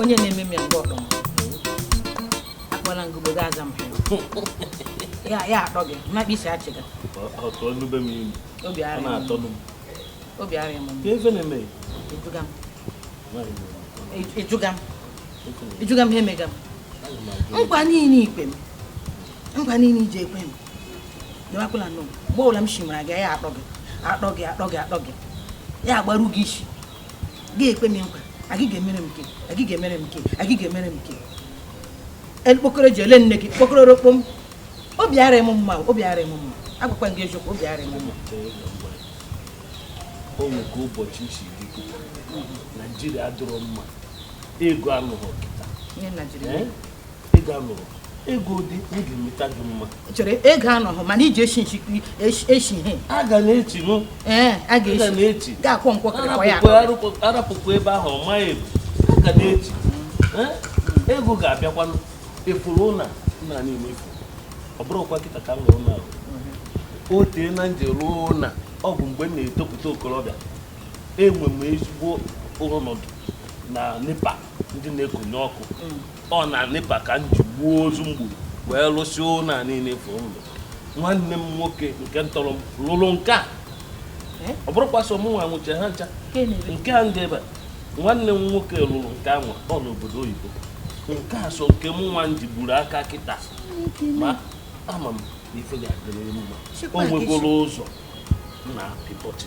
onye na-eme m ya mgbe ọkpọ m akpọla ngụgbo ga-aza m ya ya atọ gị mmakpa isi achị gị obi arịa m ị jụga m ha emega m nkwa niile i kwe m nkwa niile i ji ekwe m dịwakwala nọ mgbe ọbụla m shimara gị ya atọ gị atọ gị atọ gị atọ gị ya agbaru gị isi gị ekwe m nkwa agị ga-emere m nke agị ga-emere m nke agị ga-emere m nke ekpokoro ji ele nne gị kpokoro rokpo m obi ara m mma obi ara m mma agwakwa gị eziokwu obi ara m mma o nwego ụbọchị isi dị naijiria dụrụ mma ego anọghị kịta ego dị m ga-emeta gị mma chere ego anọghị mana iji eshi nchi eshi ihe a ga na-echi nụ ee a ga-echi ga-akwọ nkwọ kịrịkwa ya arapụkwa ebe ahụ ọ maghị ebu a ga na-echi ego ga-abịakwanụ ị fụrụ ụna nna niile ị fụ ọ bụrọkwa kịta ka m rụrụ ụna o teena m ji rụọ ụna ọ bụ mgbe m na-etopụta okorobịa enwe m ezigbo ọnọdụ na nepa ndị na-ekonye ọkụ ọ na nepa ka m ji gbuo ozu m gbu wee lụsịa ụlọ a niile ị fụ ụlọ nwanne m nwoke nke tọrọ m lụrụ nke a eh? ọ bụrọkwa sọ mụ nwa nwecha ha ncha nke a ndị ebe nwanne m nwoke lụrụ nke a nwa ọ nọ obodo oyibo nke a sọ nke mụ nwa m ji gburu aka kịta ma ama m ife ga-adịrị mma o nwegoro ụzọ na pịpọtị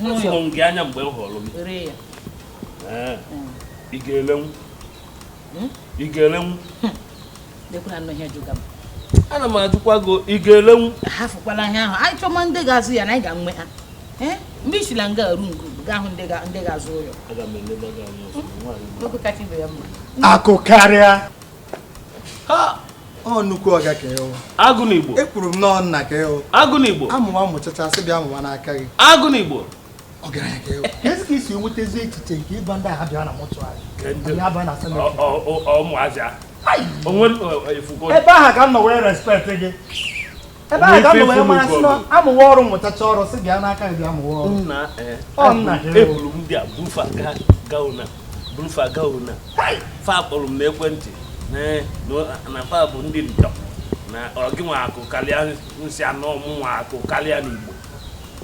hụrụ gị anya mgbe m hụrụ gị ị ga-elenwu hmm? ị ga-elenwu hmm. ana m ajụkwa gị ị ga-elenwu hafụkwala ihe ahụ anyị chọma ndị ga-azụ ya na anyị ga-enwe ha eh? mgbe i sila nga aru nke ugo ga-ahụ ndị ga-azụ ụlọ akụ karịa ọ nnukwu ọga ka ị wụ agụ na igbo ekwuru m nọọ nna ka ị wụ agụ na igbo a mụwa mụchacha sị bịa mụwa n'aka gị agụ na igbo ọgaranya ka ị wụ kezi ka i si enwetazi echiche nke ịba ndị agha bịa na mọchụarị ụmụazị a ebe ahụ ka m nọ wee respect gị ebe ahụ ka m nọ wee mara sị na a mụwa ọrụ mụchacha ọrụ sị bịa n'aka gị bịa mụwa ọrụ nna eh, ọ nna eburu m ndị a buru fa gaa gauna buru fa gauna fa kpọrọ m n'ekwentị eh, na fa bụ ndị ntọ na ọ gị nwa akụ karịa m sị na ọ mụ nwa akụ karịa n'igbo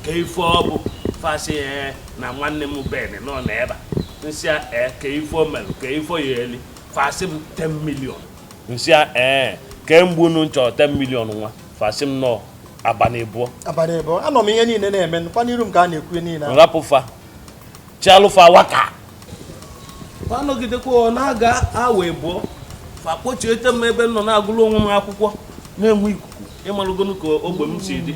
kee ife ọ bụ fa sị eh, na nwanne m ben nọ n'ebe a m sị kee ife o mere kee ife ọ ya-eli fa sị m 10 million m sị ya ee kemgbe unu na-achọ 10 million nwa fa sị m nọ abalị abụọ abalị abụọ anọ m ihe niile na-eme nkwa n'iru m ka a na-ekwu niile m rapụ fa chịalụ fa aka fa anọgidekwa ọ na-aga awa abụọ fa kpọchiete m ebe m nọ na-agụrụ onwe m akwụkwọ na-enwe ikuku ị malụgonụ ka ogbe m si dị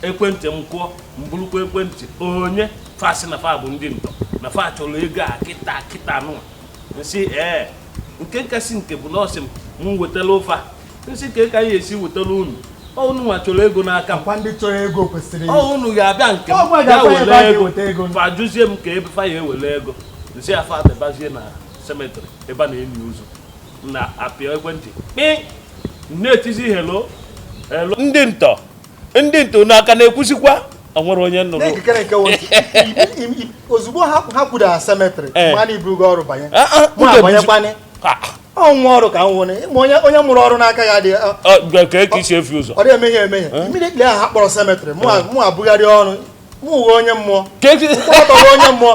ekwentị m kụọ m burukwa ekwentị onye fa sị na fa bụ ndị ntọ na fa chọrọ ego a kịta kịta nụwa m sị ee nke kasị nke bụ na ọ sị m m wetalụ fa m sị kee ka m ya-esi wetalụ unu ọ unu nwa chọrọ ego n'aka m ndị chọrọ ego kwesịrị unu ga-abịa nke m ga were ego fa jụzie m kee ebe fa ya-ewere ego m sị fa debazie na cemetery ebe a na-eni ozu na-apịa ekwentị kpị na-etizi hello hello ndị ntọ ndị ntọ nwa ka na-ekwusikwa o nwere onye m nụrụ n'ekikere nke wotu ozugbo ha ha kwudara cemetery Eh. mana iburugo ọrụ banye Ah, ah, mụ ude abanyekwanye Ah, ọnwa ọrụ ka m nwere ma onye onye mụrụ ọrụ n'aka ya dị ọ- ah, gwa- ka ka isi efi ụzọ ọ dị emehie emehie immediately ahụ ha kpọrọ cemetery mụ a- mụ abụgharị ọrụ mụ uwe onye mmụọ Ka esi- mkpọrọtọwa onye mmụọ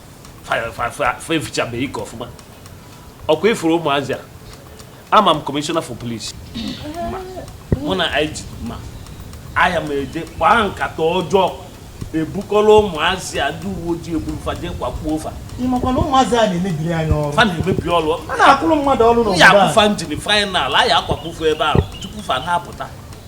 fa efichabeghị ike ọfụma ọkwa ị fụrụ ụmụazị a ama m Commissioner for Police mụ na IG ma aya m eje kpaa nkata ọjọọ ebukọla ụmụazị a ndị uwe ojii eburu fa jee kwakpuo fa ị makwa na ụmụazị a na-emebiri anyị ọrụ fa na-emebi ọrụ a na-akwụrụ mmadụ ọrụ n'obodo a ya-akpụ fa njini final a ya-akwakpu fa ebe ahụ tupu fa na-apụta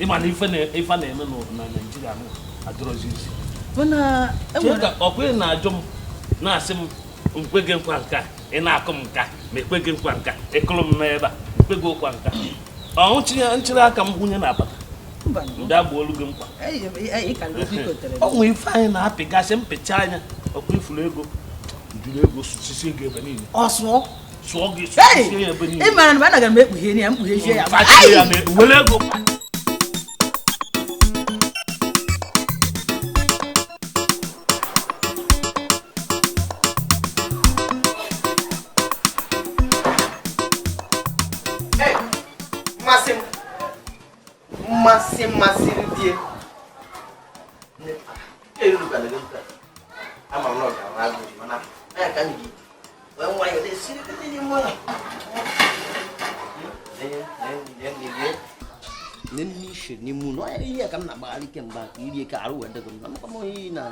ị ma na ife na-eme na Nigeria adịrọzi easy ọkwa ị na-ajụ m na-asị m m kwe gị nkwa nka ị na-akụ m nka ma ekwe gị nkwa nka ị kụrụ m n'ebe a m kwe gị nkwa nka ọ m chịrị aka m gwụnye na apata ndị a gbalụ gị nkwa o nwe ife anyị na-apịgasị mpịcha anya ọkwa ị fụrụ ego juru ego sisi ego ebe niile ị mara na anaghị m ekpughe ya m kpughezie ya masị mmasị ndị n'ime ụlọ ihe ka m na-agbagharị kemgbe ka irie ka arụ wee dego m na mkpam oyi na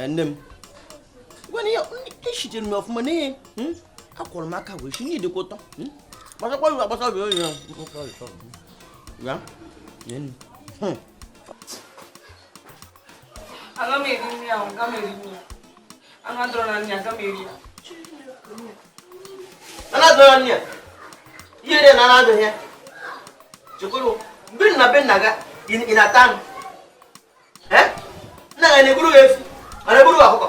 nne m gwena ya echitere m ọfụma na ihe akwọrọ m aka wee si n'ihi dịkwa ụtọ gbasakwa iwe agbasa obi onye ya aga m eri nri ahụ aga m eri nri ya anụ adọrọ na nri aga m eri ya anụ adọrọ na nri ya ihe dị na anụ adọghị ya chekwuru mgbe ị nọ be nna gị ị na-ata anụ nna gị na-egburu gị efi ma na-egburu gị ọkụkọ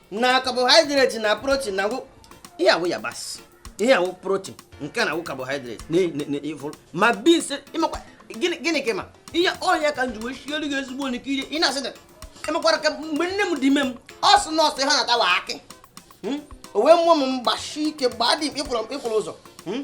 na carbohydrate na protein na ihe a wụ yabasị ihe a wụ protein nke na awụ carbohydrate n'ifụrụ ma beans ị makwa gịnị ka ma ihe ọhịa ka m ji wee sielu gị ezigbo nri kee ihe ị na-asị ị makwara ka mgbe nne m dị ime m ọ sị nọọsụ ha na-atawa akị hmm? o wee mụọ m m gbashi ike gbaa dị ịkwụrụ ụzọ hmm?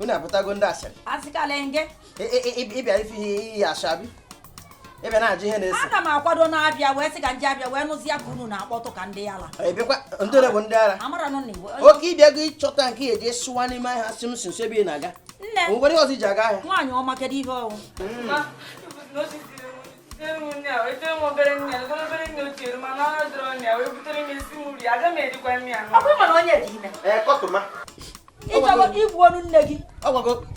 unu apụtago ndị asịrị ị bịa ife iyi ashabi ị bịa na-ajụ ihe na-esi ana m akwado na-abịa wee sị ka ndị abịa wee nụzi ya ka unu na-akpọtụ ka ndị ala ebekwa ndị ole bụ ndị ala oke ị bịago ịchọta nke ya eji sụwa n'ime ahịa si m si nso ebe ị na-aga nne nwere ihe ọzọ i ji aga ahịa nwaanyị ọma kedu ihe ọwụ hmm. ị chọrọ ka i gbuo nne gị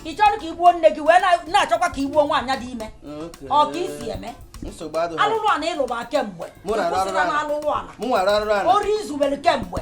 ị chọrọ ka i gbuo nne gị wee na-achọkwa ka i gbuo nwaanyị dị ime ọ ka i si eme alụrụ ala ị lụba kemgbe ị kwụsịla na alụrụ ala ori i zubere kemgbe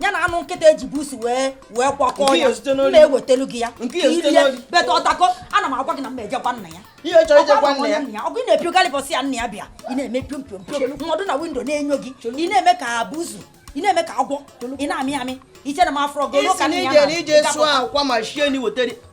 ya na anụ nkịta eji busu wee kwakọọ ya na-ewetelu gị ya irie beta ọtako ana m agwa gị na m ejekwa nna ya ọgụ ị na-epio galibọs ya nna ya bịa ị na-eme piom piom piom m nọdụ na windo na-enyo gị ị na-eme ka busu ị na-eme ka agwọ ị na-amị amị i che na m afụrọ gị ị sị na i je na i je sụọ akwa ma shie na i wetere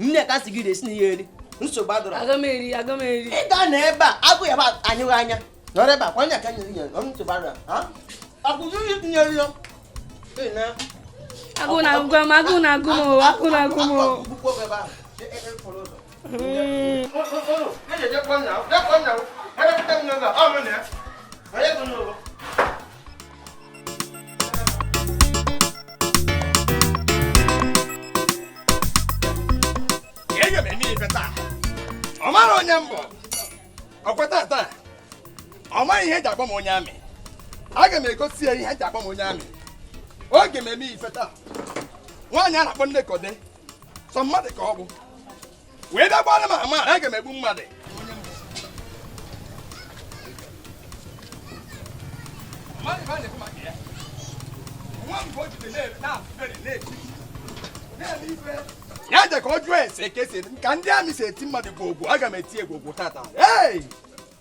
nne ka si gị resi na ihe eri nsogbu adọrọ aga m eri aga m eri ị ga-anọ ebe a agụụ ya-anyụ gị anya nọrọ ebe a kwanye aka nyere nyere ọrụ nsogbu adọrọ ha akwụkwọ ihe tinyere ya agụ na agụ m agụ na agụ m agụ na agụ m Onye bụ n'ụlọ? ọ mara onye m bụ ọ kweta taa ọ maghị ihe eji agba m onye amị aga m egosi ya ihe eji agba m onye amị oge m eme ife taa nwaanyị a na-akpọ Nneka ode sọ mmadụ ka ọ bụ wee bịa gbara m ama aga m egbu mmadụ ya je ka ọ jụọ ese ka esi ka ndị amị si eti mmadụ gwogwo aga m eti ya gwogwo tata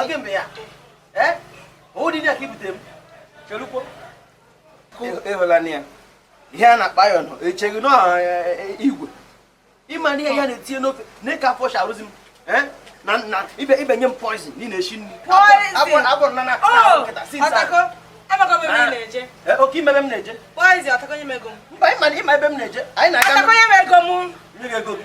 oge mgbe ya ee ụdị ndị aka ibute m chelukwo ịhụla na ya ihe a na-akpa ya nọ echeghị na igwe ịma na ihe ya na-etinye n'ofe na ịka afọ sharụzi m na na ibe ibe nye m poison ị na-eshi nri agwọ na na nkịta si nsa okay ịma ebe m na-eje mba ịma ebe m na-eje anyị na-aga nye gị ego gị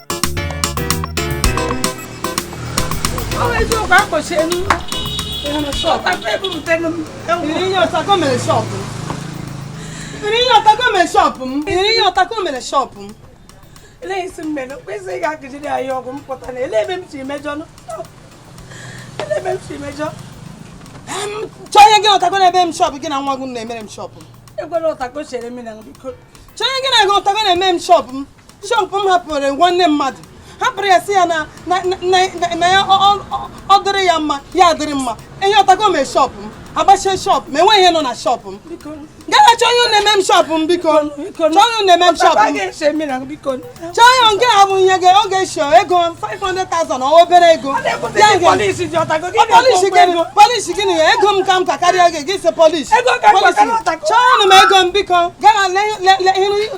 shọpụ m ele isi m mere kwesịrị ga akụjiri anyị ọgwụ m pụta na ele ebe m si mejọ ele ebe m si mejọ chọọ ihe gị ọtakọ na ebe m shọpụ gị na nwa gị na-emere m shọpụ ekwela ọtakọ chere m na biko chọọ ihe gị na gị ọtakọ na-eme m shọpụ m shọpụ m hapụrụ nwanne mmadụ hapụrụ ya si ya na na ya ọ dịrị ya mma ya adịrị mma ihe ọtakọ mee shọpụ m agbachie shọpụ m enweghị ihe nọ na shọpụ m gaa chọọ onye na-eme m shọpụ m biko chọọ onye na-eme m shọpụ m chọọ onye nke a bụ ihe ga oge shọ ego 500,000 ọ obere ego polisi gịnị ya ego m ka m ka karịa gị gị si polisi chọọnụ m ego m biko gaa